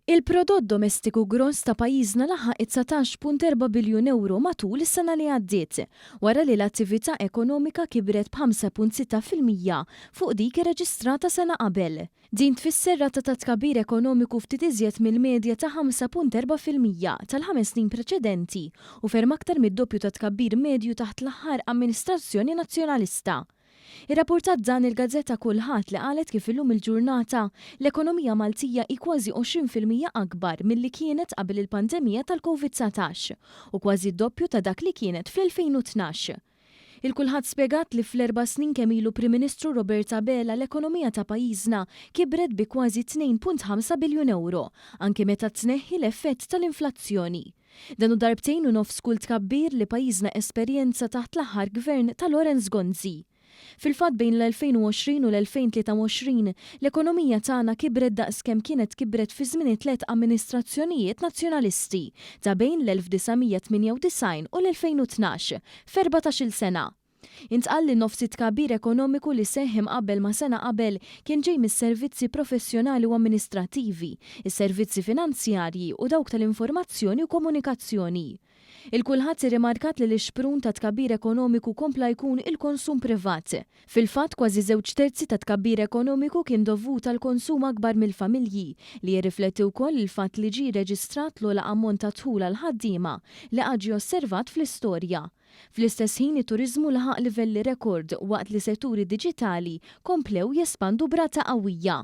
Il-prodott domestiku gross ta' pajjiżna laħaq it-dsatax punt erba' biljun ewro matul is-sena li għaddiet, wara li l-attività ekonomika kibret b'ħamsa punt sitta fil-mija fuq dik irreġistrata sena qabel. Din tfisser rata ta' tkabbir ekonomiku ftit iżjed mill-medja ta' ħamsa punt erba' fil-mija tal-ħames snin preċedenti u ferm aktar mid-doppju tat-tkabbir medju taħt l-aħħar amministrazzjoni Nazzjonalista. Irrappurtat dan il-gazzetta kull Ħadd li qalet kif illum il-ġurnata l-ekonomija Maltija hi kważi għoxrin fil-mija akbar milli kienet qabel il-pandemija tal-Covid dsatax u kważi d-doppju ta' dak li kienet fl-2012. Il-kulħadd spjegat li fl-erba' snin kemm ilu Prim Ministru Robert Abela l-ekonomija ta' pajjiżna kibret bi kważi tnejn punt ħamsa biljun ewro anki meta tneħħi l-effett tal-inflazzjoni. Dan hu darbtejn u nofs kull tkabbir li pajjiżna esperjenza taħt l-aħħar Gvern ta' Lawrence Gonzi. Fil-fatt bejn l-2020 u l-2023, l-ekonomija tagħna kibret daqs kemm kienet kibret fi żmien it-tliet amministrazzjonijiet Nazzjonalisti ta' bejn l-1998 u l-2012, f'erbatax-il sena. Intqal li nofs it-tkabbir ekonomiku li seħħ imqabbel ma' sena qabel kien ġej mis-servizzi professjonali u amministrattivi, is-servizzi finanzjarji u dawk tal-informazzjoni u komunikazzjoni. Il-kulħadd irrimarkat li l-ixprun tat-tkabbir ekonomiku kompla jkun il-konsum privat. Fil-fatt, kważi żewġ terzi tat-tkabbir ekonomiku kien dovut għall-konsum akbar mill-familji, li jirrifletti wkoll il-fatt li ġie rreġistrat l-ogħla ammont ta' dħul għall-ħaddiema li qatt ġie osservat fl-istorja. Fl-istess ħin it-turiżmu laħaq livelli rekord waqt li setturi diġitali komplew jespandu b'rata qawwija.